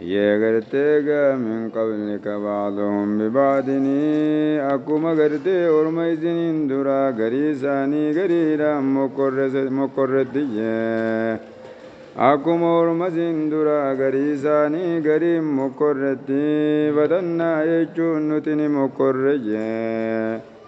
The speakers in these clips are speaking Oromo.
Yee gartee gaa min qablika ba'duhum bibaadini akkuma gartee orma isiniin duraa garii isaanii gariidhaan mokkorrese mokkorrettiyye akkuma orma isin duraa garii isaanii gariin mokkorretti fatannaa jechuun nuti ni mokkorreyye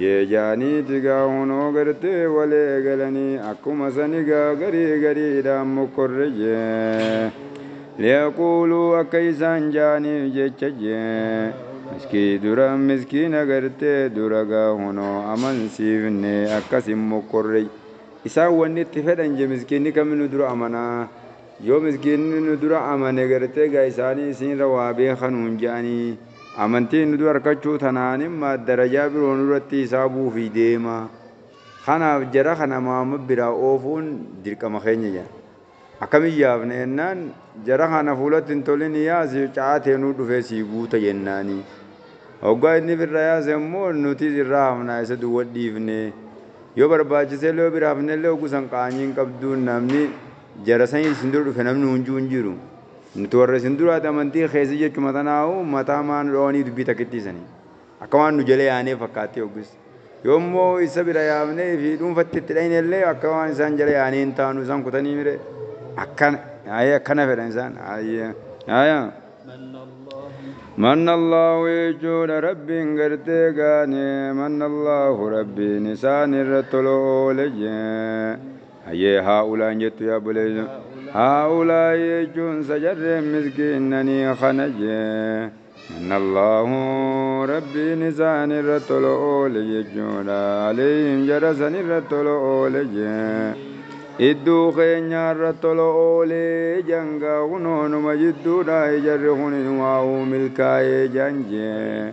Yee jaanii tigaa hunoo gartee wal eegalanii akkuma san igaa garii gariidhaan mokkorre jee liyaquuluu akka isaan jaaniif jecha jee miskii dura miskiina gartee dura gaa hunoo amansiifne akkas hin mokkorre isaan wanni itti fedhan jee miskiinni kaminu dura amanaa Yoo miskiinni nu dura amane gartee egaa isaanii isiinra waa beeka nuun je'anii amantii nu dura arkachuu tanaanimma darajaa biroo nurratti hisaabuufii deema. Kanaaf jara kana Muhammad biraa oofuun dirqama keenya je'an. Akkamiin yaafna jennaan jara kana fuulatti hin tolini yaasi ca'aa teenuu dhufee sii guuta jennaanii. Hoggaa inni ifirraa yaase ammoo nutiis irraa hafnaa isa duwwa dhiifnee. Yoo barbaachiseellee yoo bira hafnellee hoggu san qaanyiin qabduu namni Jara sani isin dura dhufe namni hunjuu hin jiru. Nuti warra isin duraati amantiin keessa jechuma tanaahu mataa maa nu dhawanii dubbii takkittii sani. Akka waan nu jala yaanee fakkaattii hoggus. Yoo immoo issa bira yaamnee fi dhuunfatti itti dhayne illee akka waan isaan jala yaanee hin taanu isaan kutanii mire. Akkana. Aye akkana fedhan isaan. Aye. Aye. Manna Allahu jechuudha Rabbiin gartee gaane manna Allahu Rabbiin isaan irra tolo oole jee. Hayyee haa'ulaa hin jettu yaa obboleessa. Haa'ulaa jechuun sajarreen miskiinnanii kana jee. Mannallaahu rabbiin isaan irra tola oole jechuudha. Aleeyhim jara san irra tola oole jee. Idduu keenya irra tola oolee jangaa kunoonuma jidduudha ijarri kun inumaa uu milkaa'ee jaan jee.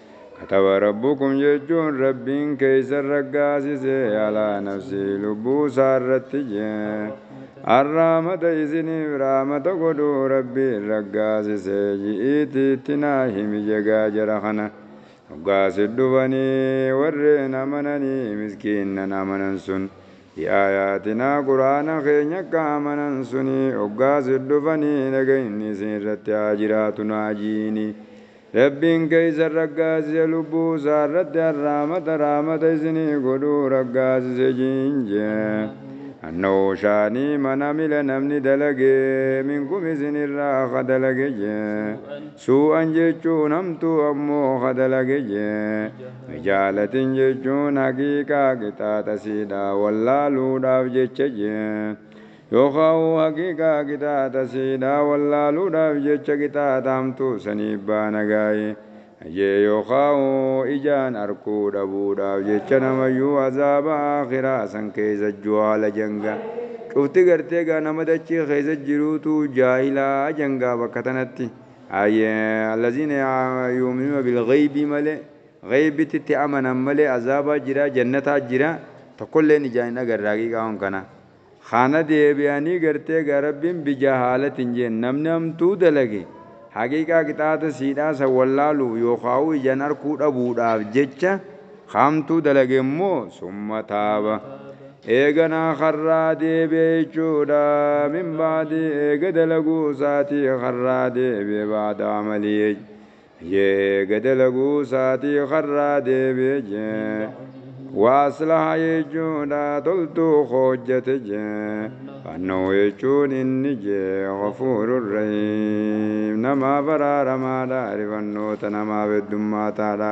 Kataba Rabbukum jechuun Rabbiin keessan raggaasise alaa nafsii lubbuu isaa irratti Arraamata isiniif raamata godhuu Rabbiin raggaasise ji'iitii itti naa himi jegaa jara kana hoggaa sit dhufanii warreen amananii miskiinnan amanan sun bi aayaatinaa qur'aana keenya akka amanan sunii hoggaa sit dhufanii nagayni isin irratti haa jiraatu naa ji'inii Rabbiin keeysan raggaasise lubbuu isaa irratti arraamata rahmata isinii godhu raggaasise jiin jee. Annahu sha'anii man amila namni dalage minkum isin irraa ka dalage jee. Suu'an jechuun hamtuu ammoo ka dalage jee. Bijaalatin jechuun haqiiqaa qixaaxa isiidhaa wallaaluudhaaf jecha jee. Yookaahuu haqiiqaa qixaaxa siidhaa wallaaluudhaaf jecha qixaaxa hamtuu saniif baana gaaye, jee yookaahuu ijaan arkuu dhabuudhaaf jecha namayyuu azaaba aakhiraa san keessa juhaala janga cufti gartee gaa nama dachii keessa jiruutu jaahila jangaa bakka tanatti aye allaziina yuuminuuna bilgheybii malee gheeybitti itti amanan malee azaabaa jira jannataa jira tokkolleen ijaan hin agarre haqiiqaa waan kanaa. Kana deebi'anii gartee gaa Rabbiin bijaa haa latin jeen namni hamtuu dalage haqiiqaa qixaata siidhaa san wallaaluuf yookaa'uu ijan arkuu dhabuudhaaf jecha ka hamtuu dalage immoo summa taaba eeganaa karraa deebi'e jechuudha min ba'di eega dalaguu isaatii karraa deebi'e ba'da amalii Yee ga dalaguu saatii karraa deebi'e jee Waaslaha jechuudha toltuu hoojjate jee Fannoo jechuun inni jee Gafuurur Rahiim Namaaf araaramaadha Arifannoota namaaf heddummaataadha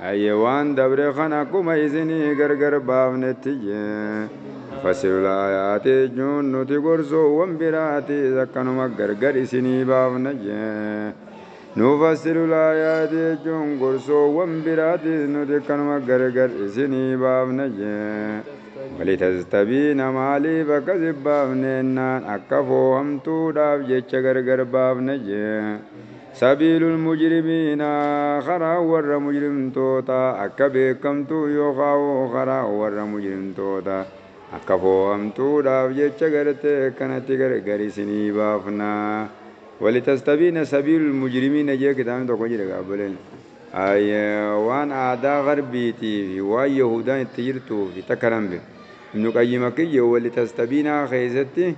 Hayyee waan dabre kan akkuma isinii gargar baafnetti nufassilu laayaati jechuun nuti gorsoowwan biraatiis akkanuma gargar isinii baafna. Nufassilu laayaati jechuun gorsoowwan biraatiis nuti akkanuma gargar isinii baafna. Walitastabiina maaliif akkas hin baafne jennaan akka foohamtuudhaaf jecha gargar baafna. Sabiilu lmujrimiina, karaan warra mujrimtootaa, akka beekkamtuu yookaa'u karaan warra mujrimtootaa, akka foo'amtuudhaaf jecha gartee akkanatti gargar isinii baafna. Walitastabiina sabiilu lmujrimiina jee kitaabni tokko jira egaa obboleen. Aayy waan aadaa garbiitii fi waan yahuudaan itti jirtuufi takka nan beeka. Ibnu qayyim akki jee walitastabiinaa keessatti,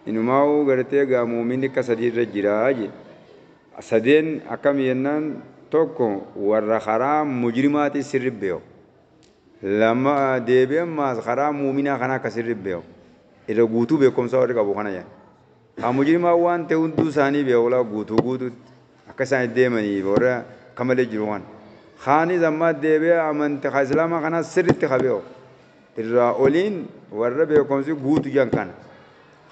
Inumaa'uu gartee egaa mu'uminni akka sadii irra jira jee. Sadeen akkami jennaan tokko warra karaa mujrimaatiin sirri beeku. Lama deebi'ee ammaas karaa mu'uminaa kanaa akka sirri beeku. Irra guutuu beekumsaa warri qabu kana jeen. Haa mujrimaa waan ta'e hunduu isaanii beeku laa guutuu guutuutti. Akka isaan itti deemanii warra akka malee jiru kana. Kaanis ammaa deebi'ee amanti ka islaamaa kanaa sirriitti ka beeku. irraa oliin warra beekomsi guutu jedhan kana.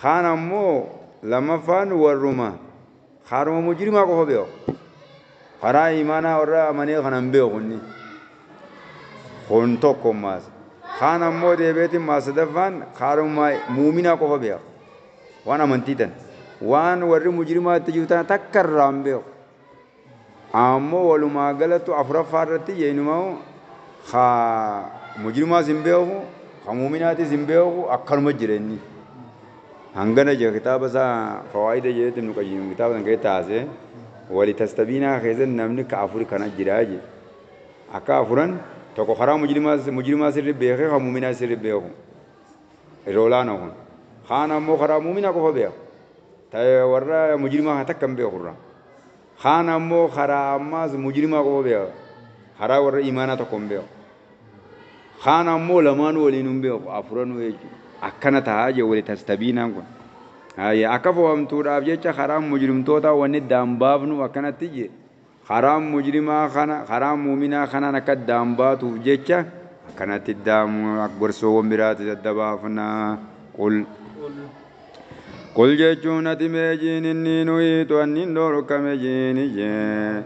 Kaan ammoo lammaffaan warruma kaaruma mujrimaa qofa beeku. Karaa iimaanaa warra amanee kana hin beeku inni. Kun tokko maas. Kaan ammoo deebi'eetiin maas sadaffaan kaaruma muuminaa qofa beeku. Waan amantii tan. Waan warri mujrimaa itti jiru tana takka irraa hin beeku. Ammo walumaa galatu afuraffaa irratti je inumau ka mujrimaas hin beeku ka mu'uminaatiis hin beeku akkanuma jira inni hangana jira kitaaba isaa fawaa'ida jedhetti ibnu qayyim kitaaba san keessatti haasee wali tastabiinaa keessatti namni ka afuri kana jira je akka afuran tokko karaa mujrimaas mujrimaa sirri beekee ka mu'uminaa sirri beeku irra olaana kun kaan ammoo karaa mu'uminaa qofa beeka ta'e warra mujrimaa takka hin beeku irraa Kaan ammoo karaa ammaas mujrimaa qofa beeka. Karaa warra iimaanaa tokko hin beeku. Kaan ammoo lamaanuu waliinuu hin beeku. Afuranuu jechuudha. Akkana tahaa jee wali tastabiinaan kun. Haaya akka fohamtuudhaaf jecha karaan mujrimtootaa wanni addaan baafnu akkanatti jee karaan mujrimaa kana karaan muuminaa kanaan akka addaan baatuuf jecha akkanatti addaan gorsoowwan biraatis adda baafna. Qul. Qul jechuun ati mee jiin inni nuyiitu anniin dhoorkame jiini jee.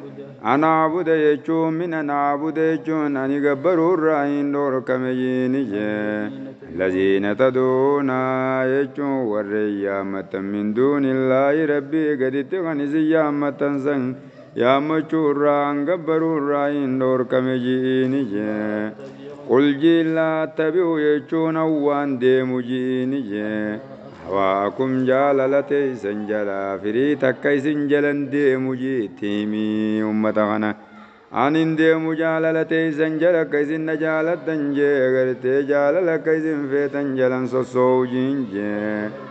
Anaa buda jechuun min anaa buda jechuun ani gabbaruu irraa hin dhoorkame jiini jee. Laziina taduuna jechuun warreen yaammattan min duunillaahi rabbii gaditti kan isin yaammattan san Yaammachuu irraa an gabbaruu irraa hin dhoorkame ji'iini jee. Qul jiin laa attabi'u jechuun an waan deemu ji'iini jee. Hawaakum jaalala teeysan jalaa firii takka isin jala hin deemu jii itti himi ummata kana. An hin deemu jaalala teeysan jala akka isin na jaalattan jee gartee jaalala akka isin feetan jalan sossoowu jiin jee.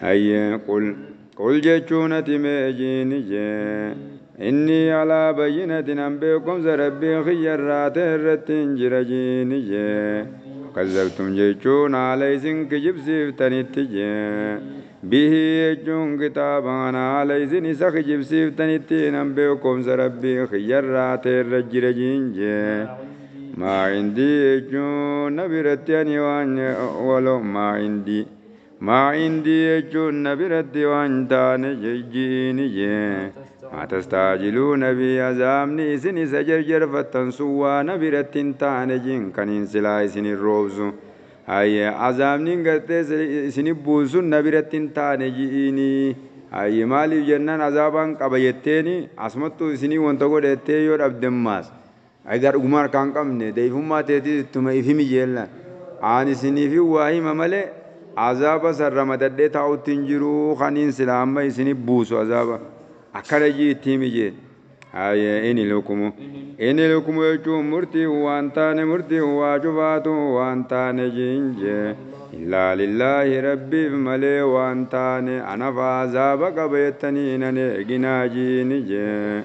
Hayye qul qul jechuun ati mee jiini jee innii alaa bayyinatin an beekumsa rabbii kiyya irraa ta'e irrattiin jira jiini jee fakazzabtum jechuun haala isin kijibsiiftanitti jee bihii jechuun kitaaba kana haala isin isa kijibsiiftanittiin an beekumsa rabbii kiyya irraa ta'e irra jira jiin jee maa indii jechuun na biratti ani waan walo maa indii Maa indii jechuun na biratti waan taane jijjiini jee maa tastaajiluu nabii azaabni isin isa jerjerfattan sun waa na biratti hin taane jin kaniin silaa isin hin roobsu haye azaabnin gartee isini buun sun na biratti hin taane ji'iini haye maaliif jennan azaabaan qaba jetteeni asmattuu isinii wanta godhe jettee yoo dhabdemmaas Edaa dhugumaa harkaa hin qabne da'ifummaa teetis ittuma if himi jeellaan. Aan isiniifin waa hima malee azaaba san ramadadhee taa'utti hin jiru kaniin silaa amma isinif buusu azaaba. Akkana ji'i itti himi jeen. Haayee in ilhukumu. In ilhukumu jechuun murtiin waan taane murtiin waa cufaatu waan taane ji'in jee. Illaa lillaahi Rabbiif malee waan taane anafaa azaaba qaba jettanii hin aneeginaa ji'in jee.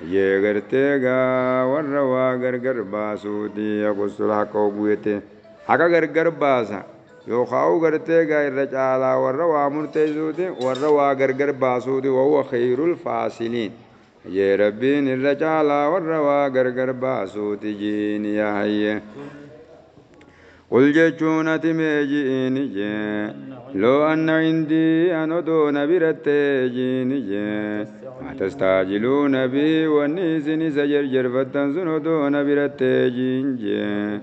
Hayyee garte egaa warra waa gargar baasuuti yaqussula haqqa hogguu jette haqa gargar baasa yookaa'u garte egaa irra caalaa warra waa murteessuuti warra waa gargar baasuuti wahuwa kheeyrul faasiliin hayyee rabbiin irra caalaa warra waa gargar baasuuti jiin yaa hayyee Qul jechuun ati mee ji'ini jee Loo anna indii an odoo na birattee ji'ini jee Maa tastaajiluuna bihi wanni isin isa jerjerfattan sun odoo na birattee ji'in jee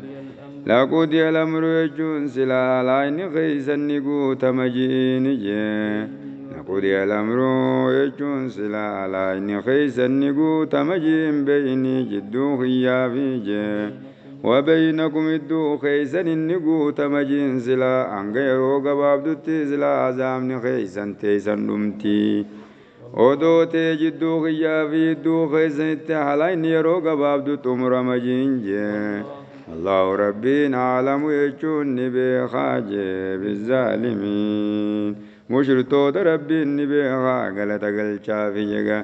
Laqudiya alamru jechuun silaa haalaa inni keeysan ni guutama ji'ini jee Laqudiya alamru jechuun silaa haalaa inni keeysan ni guutama ji'in beeyni jidduu kiyyaa fi jee وبينكم idduu keessan inni guutama jiin silaa hanga yeroo gabaabdutti silaa azaabni keessan teessan dhumti odoo tee jidduu kiyyaa fi idduu keessanitti halaa inni yeroo gabaabdu xumurama jiin jee Allahu Rabbiin aalamu jechuun ni beekaa jee bizzaalimiin mushritoota Rabbiin ni beekaa galata galchaafi jegaa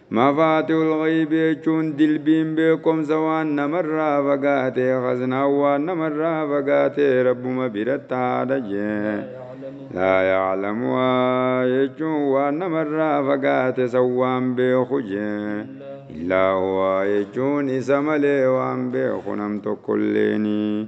Mafaatihul ghaybi jechuun dilbiin beekomsa waan namarraa fagaate, khaznaan waan namarraa fagaate Rabbuma biratti haadha jee. Laa ya'lamuhaa jechuun waan namarraa fagaate san waan beeku jee. Illaa huwaa jechuun isa malee waan beeku nam tokkolleeni.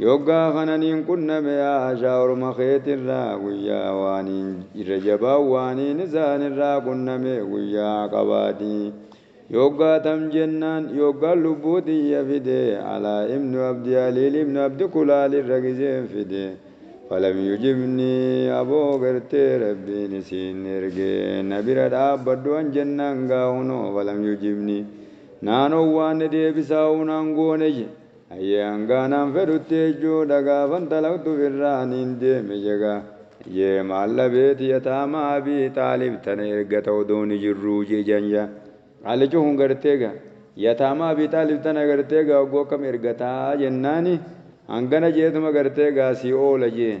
Yoggaa kana niin qunname yaa Ashaa orma keetirraa guyyaa waaniin irra jabaan waaniin isaanirraa qunname guyyaa Aqabaati. Yoggaa tam jennaan yoggaan lubbuu tiyya fide Alaa ibnu Abdi Aliil ibnu Abdi Kulaal irra gizeen fide falam yujibnii aboo gartee Rabbiin isiin erge na bira dhaabbadhu an jennaan gaa hunoo falam yujibnii naan owwaanne deebisaa hoo naan goone je Hayyee hangaa naan fedhutti jechuudha gaafan xalaqtu firraaniin deeme jegaa. Hayyee maal dhabeeti yataama abii xaalib tana erga ta'u dooni jirruu jejan ja. Qaallichi kun gartee ga. Yataama abii xaalib tana gartee ga hogguu akkam ergataa jennaani hangana jeetuma gartee ga sii oola jeen.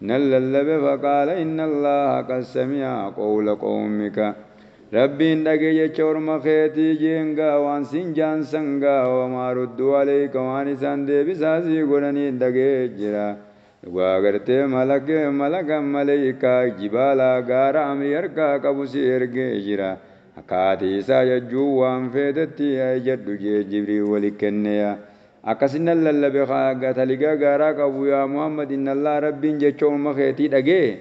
nan lallabe faqaala inna Allaaha qad sami'a qowla qowmika Rabbiin dhage jecha orma keetii jeen gaa waan siin jaan san gaa wa maa rudduu aleyka waan isaan deebisaa sii godhaniin dhagee jira dhugaa agartee malake malakan maleykaa jibaala gaara amrii harkaa qabu sii ergee jira akkaa ati isaa jajjuun waan feetetti ijadhu jee jibriil wali kenneya Akkasin nan lallabe ka gataliga gaaraa qabu, Yaa Muhammad! Innallaaha, Rabbiin, jecha orma keetii dhagaye,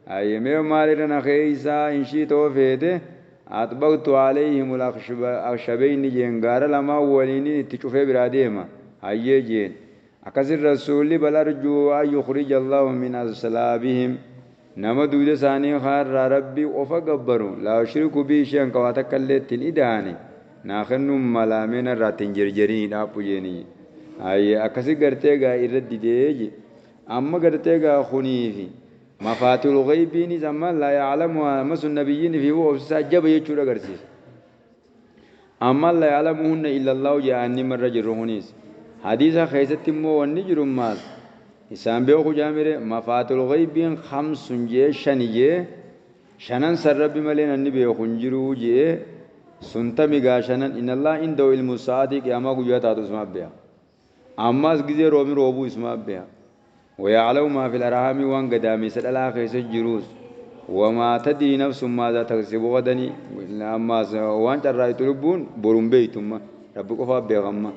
Haye mee maal irra na keeysa? In shi'ta hoo feete, Axbaqtu alayhimul akhshabeyni jeen gaara lamaan waliinin itti cufee biraa deema. Hayyee jeen. Akkasin Rasuulli, Bal arjuu an yukhrijallaahu min aslaabihim. Nama duyda isaanii kaa irraa Rabbii qofa gabbaru, laa yushriku bihi shay'an ka waa takka illee itti hin ida'ane, naa kennuun malaa mee narraa itti hin jerjerini dhaabbu jeeni je. Haye akkasi gartee egaa irra didee je. Amma gartee egaa kunii fi mafaatihul ghaybiinis amma laa ya'lamuhaa amma sun nabiyyiin fi obsisaa jaba jechuudha agarsiisa. Ammal la ya'lamuhunna illallahu ja'aanni marra jirru kuniis. Hadiisa keessatti immoo wanni jiru maal isaan beeku ja'amire mafaatul ghaybiin khamsun je'ee shani je'e shanan san rabbi malee nanni beeku hin jiru je'e sun tami gaa shanan inallah indahu ilmu sa'aati qiyamaa guyyaa taatu isumaaf beeka. Ammaas gizee roobi roobuu isumaa beha. Waya'lamu maa fil arhaami waan gadaameysa dhalaa keessa jiruus wamaa tadrii nafsun maazaa taksibu gadani ammaas waan carraaytu lubbuun boru hin beeytu amma rabbi qofaa beeka amma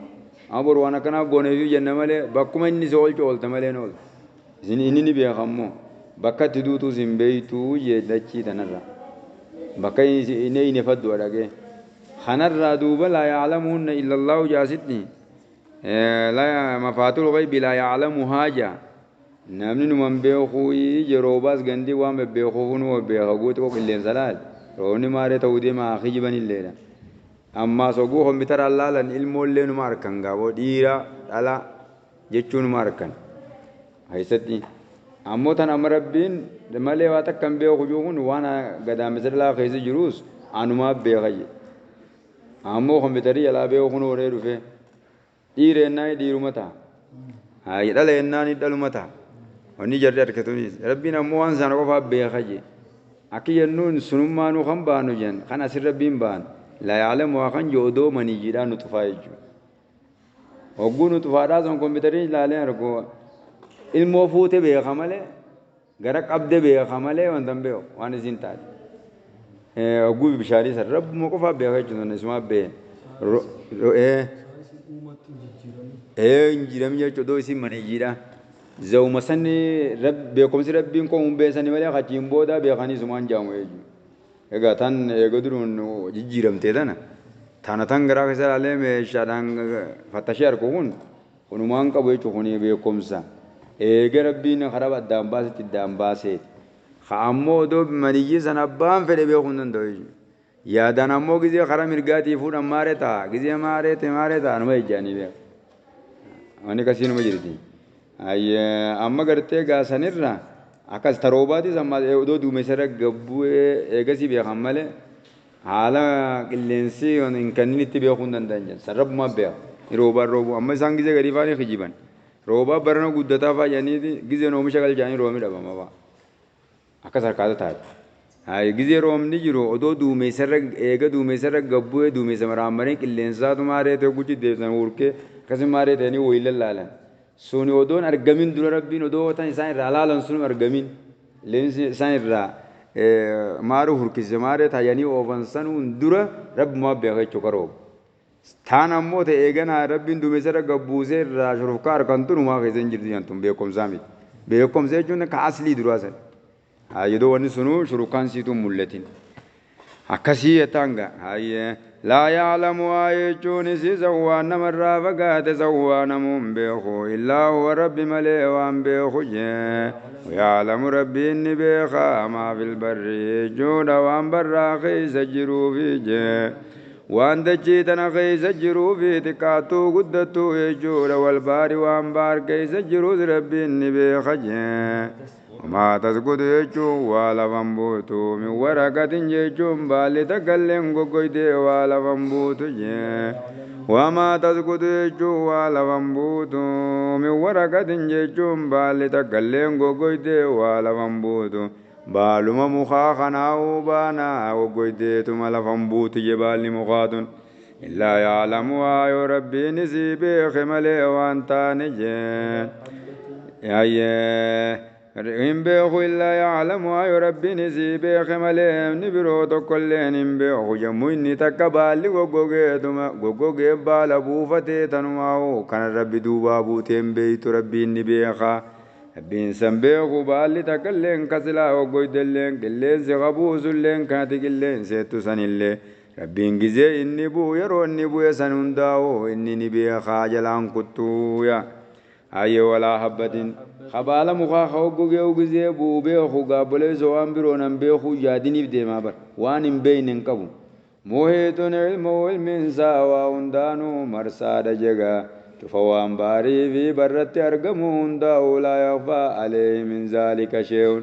amma boru waan akkanaaf booneeysuuf jenna malee bakkuma inni si oolchu oolta malee hin ooltu isin inni ni beeka ammoo bakka itti duutuus hin beeytu jee dachii tanarra bakka inni inni faddu adhagee kanarraa duuba laa ya'lamuhunna illallaahu jaasitti Mafaatul ghaybi laa ya'lamuhaa jaa namni numan beekuu yeroo baas gandii waan bebbeekuufuu numa beeka guuti koo qilleensa laal roobni maaree ta'uu deema haa kijiban illeedha. Ammaas oguu kompitaraan laalan ilmoollee numa arkan gaaboo dhiiraa dhalaa jechuu numa arkan. Keessatti ammoo tan amma rabbiin malee waa takka hin beeku juu kun waan gadaamessa dhalaa keessa jiruus anumaa beeka jedhe. Ammoo kompiitarii jalaa beeku kunoo waree dhufee. Dhiira jennaani dhiiruma taha. Haayya dhala jennaani dhaluma taha. Wanni jarri arke tunis. Rabbiin ammoo waan sana qofaa beeka jee. Akki jennuun sunummaanuu kan baanu jen kan asin Rabbiin baan laa ya'lamuhaa kan jee odoo maniyyiidhaa nuxufaa jechuu. Hogguu nuxufaadhaa san kompiitariin ilaalee argu ilmoo fuute beeka malee Gara qabde beeka malee wanta hin beeku waan isiin taate hogguu bishaanii san rabbuma qofaa beeka jechuun sun isumaa been ro ro ee ee hin jiram jechuun doo isiin maniyyiidha zawuma sani beekumsi rabbiin koo hin beesani malee kachiin booda beekanii isumaan jaamu jechuudha. Egaa tan eega duruun jijjiiramtee tana tana tan garaa keessa ilaalee meeshaadhaan fattashee argu kun Hunumaan qabu jechu kunii beekumsa eega rabbiin karab addaan baasetti iddaan baaseeti ka ammoo odoo maniyyi san abbaan fedhe beeku hin danda'u jechu yaadaan ammoo gizee kara mirgaatii fuudhan maare ta'a gizee maaree te maaree ta'a numa ejjaanii beeku wanni kasii numa jirti ayye amma gartee gaasanirra akkas taroobaatii san maal odoo duumessa irra gabbu'ee eegasii beekan malee Haala qilleensi kan hin kenninitti beekuu hin danda'an jedhan. San Rabbumaa beeka. Ni roobaa hin roobuu. Amma isaan gizee gadii fa'aa ni kijiban. Roobaa barana guddataa fa'aa jedhaniiti gizeen oomisha galchaanii roobni dhabama fa'aa. Akkas harkaata taate. Hayi gizee roobni jiru odoo duumessarra eega duumessarra gabbu'ee duumessa maraammaree qilleensaatu maaree ta'e guchi deebisan hurkee akkasii maaree ta'anii wayii lallaalan. Suni odoo hin argamin dura Rabbiin odoo watan isaan irraa laalan sun hin argamin leensi isaan irraa maaruu hurkise maaree taayanii oofan sanuun dura Rabbumaa beeka jechuu karoobu. Taan ammoo ta eeganaa Rabbiin duumessa irra gad buusee irraa shurufkaa arkan tun humaa keessa hin jirtu jean tun beekkomsaa miti. Beekkomsa jechuun ka aslii duraa sani. Haa yodoo wani sunuu shurukaan siituu hin mul'atin. Akkasii jettaan gaa. Hayyee. Laa ya'lamu haa jechuun isii sawwaan namarraa fagaate sawwaa namuu hin beeku illaa huwa rabbi malee waan beeku jee. Waya'lamu rabbiin ni beeka maa fil barri jechuudha waan barraa keessa jiruufi jee. Waan dachii tana keessa jiruufi xiqqaattuu guddattuu jechuudha wal baari waan baar keessa jirus rabbiin ni beeka jee. Wamaa tasqutu jechuun waa lafan buutu min waraqatin jechuun baalli takkalleen goggoydee waa lafan buutu jee wamaa tasqutu jechuun waa lafan buutu min waraqatin jechuun baalli takkalleen goggoydee waa lafan buutu baaluma mukaa kanaa'uu baanaa goggoydeetuma lafan buutu jee baalli mukaatun Illaa ya'lamu waa yoo rabbiin isii beeke malee waan taane jee hayyee hin beeku illaa ya'lamu waa yoo rabbiin isii beeke malee inni biroo tokkolleen hin beeku jemmu inni takka baalli goggogeetuma goggogee baala buufatee tanumaa hoo kanan rabbi duubaa buutee hin beeytu rabbiin ni beeka rabbiin san beeku baalli takkalleen ka silaa goggoydelleen qilleensi ka buusulleen kanati qilleenseettu sanillee Rabbiin gizee inni bu'u yeroo inni bu'e san hundaa'u inni ni beeka jalaan kuttuu yaa hayyee walaa habbatin ka baala mukaa ka hoggogee'u gizee bu'u beeku gaa obboleesso waan biroo nan beekuu yaadiniif deemaa bar waan hin beeyne hin qabu muhiixun ilmuhu ilmiin isaa waa hundaanuu marsaadha jegaa cufa waan bahariifi barratti argamuu hundaa'u laa yakhfaa aleeyhi min zaalika sheey'un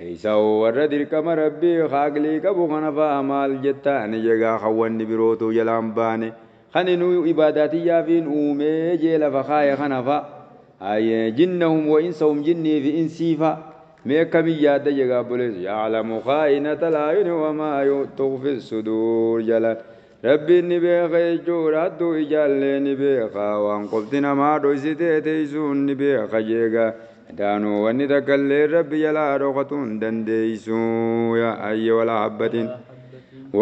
Isa hoo warra dirqama Rabbii ka aqlii qabu kana fa'a maal jetta? Ani jegaa kan wanni biroo utuu jalaa hin baane, kan inuu ibaadaa tiyyaafiin uumee jee lafa kaaye kana fa'a? Haye, jinnahum wa insahum jinnii fi insii fa'a? Mee akkamiin yaadda jegaa obboleessa? Ya'lamu khaa'inatal a'yuni wa maa tukhfis suduur jalaan Rabbiin ni beeka jechuudha hattuu ijaallee ni beeka waan qofti namaa dhoysitee teeysuun ni beeka jeega daanuu wanni takkalleen rabbi jalaa dhokatuun dandeeysu yaa ayyi walaa habbatin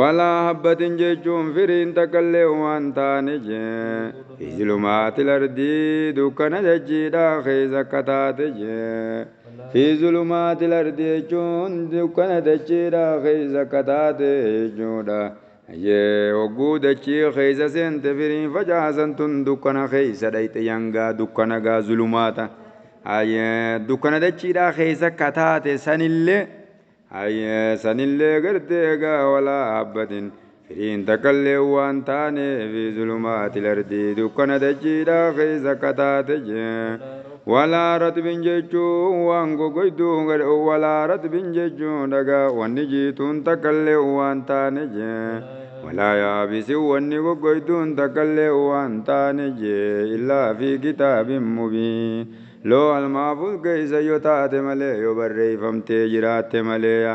walaa habbatin jechuun firiin takkalleen waan taane jee fi zulumaati lardii dukkana dachiidhaa keessa akka taate jee fi zulumaati lardii jechuun dukkana dachiidhaa keessa akka taate jechuudha Hayyee hogguu dachii keessa seente firii facaasan tun dukkana keessa dhayxe yangaa dukkana gaa zulumaata hayyee dukkana dachiidhaa keessa kataate sanillee hayyee sanillee gartee gaa walaa habbatin firiin takkallee waan taaneefi zulumaati lardii dukkana dachiidhaa keessa kataate jee Walaa ratbin jechuun waan gogoyduu gad walaa ratbin jechuun dhagaa wanni jiituun takkallee waan taane jee walaa yaabisin wanni gogoyduun takkallee waan taane jee illaa fi kitaabin mubiin loohal mahfuuz keeysa yoo taate malee yoo barreeyfamtee jiraatte maleeya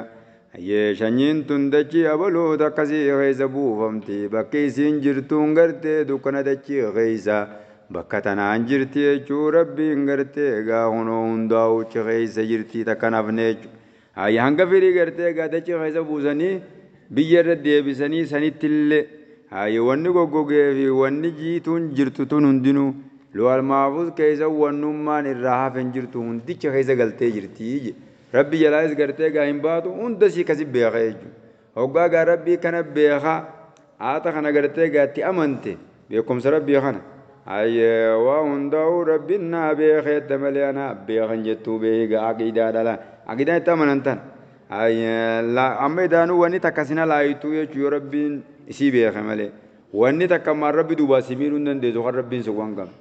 Hayyee shanyiin tun dachii abaluu takka si keessa buufamti bakki isiin jirtuun gartee dukkana dachii keessa bakka tanaan jirti jechuu rabbiin gartee egaa kunoo hundaa'uu uchi keessa jirtii takka hin hafne jechu haayya hanga firii gartee egaa dachii keessa buusanii biyya irra deebisanii sanittillee haayya wanni goggogee fi wanni jiituun jirtu tun hundinuu loohal maafuz keessa wannummaan irraa hafe hin jirtu hundicha keessa galtee jirtii je Rabbi jalaayis gartee egaa hin baatu hunda sii kasi beeka jechuudha. Hoggaa egaa Rabbii kana beeka aata kana gartee egaa itti amante beekumsa Rabbii kana hayyee waa hundaa'uu Rabbiin naa beekeetta malee anaa beekan jettuu beeki egaa aqiidaa dhala aqiidaan itti amanan tan hayyee amma idaanuu wanni takka sina laayittuu jechuu yoo Rabbiin isii beeke malee wanni takka ammaan Rabbi duubaa si miidhuu hin dandeessu kan Rabbiin si waan qabne.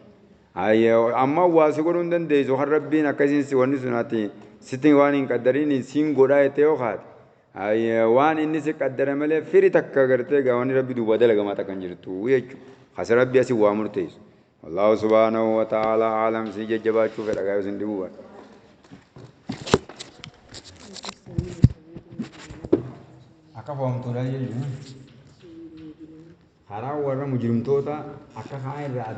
Haye amma waa si godhuu hin dandeessu kan rabbiin akka isiin si wanni sun ati sitti waan hin qaddariiniin siin godhaa jettee yoo kaate haye waan inni si qaddare malee firi takka gartee gaa wanni rabbi duubaa dalagamaa takka hin jirtu jechu kasi rabbi asi waa murteessu wallaahu subhaanahu wa ta'aalaa aalam sii jajjabaachuu fedha gaa yoo sin dhibuu baadhe akka foomtuudhaa jechuun karaa warra mujrimtoota akka kaan irraa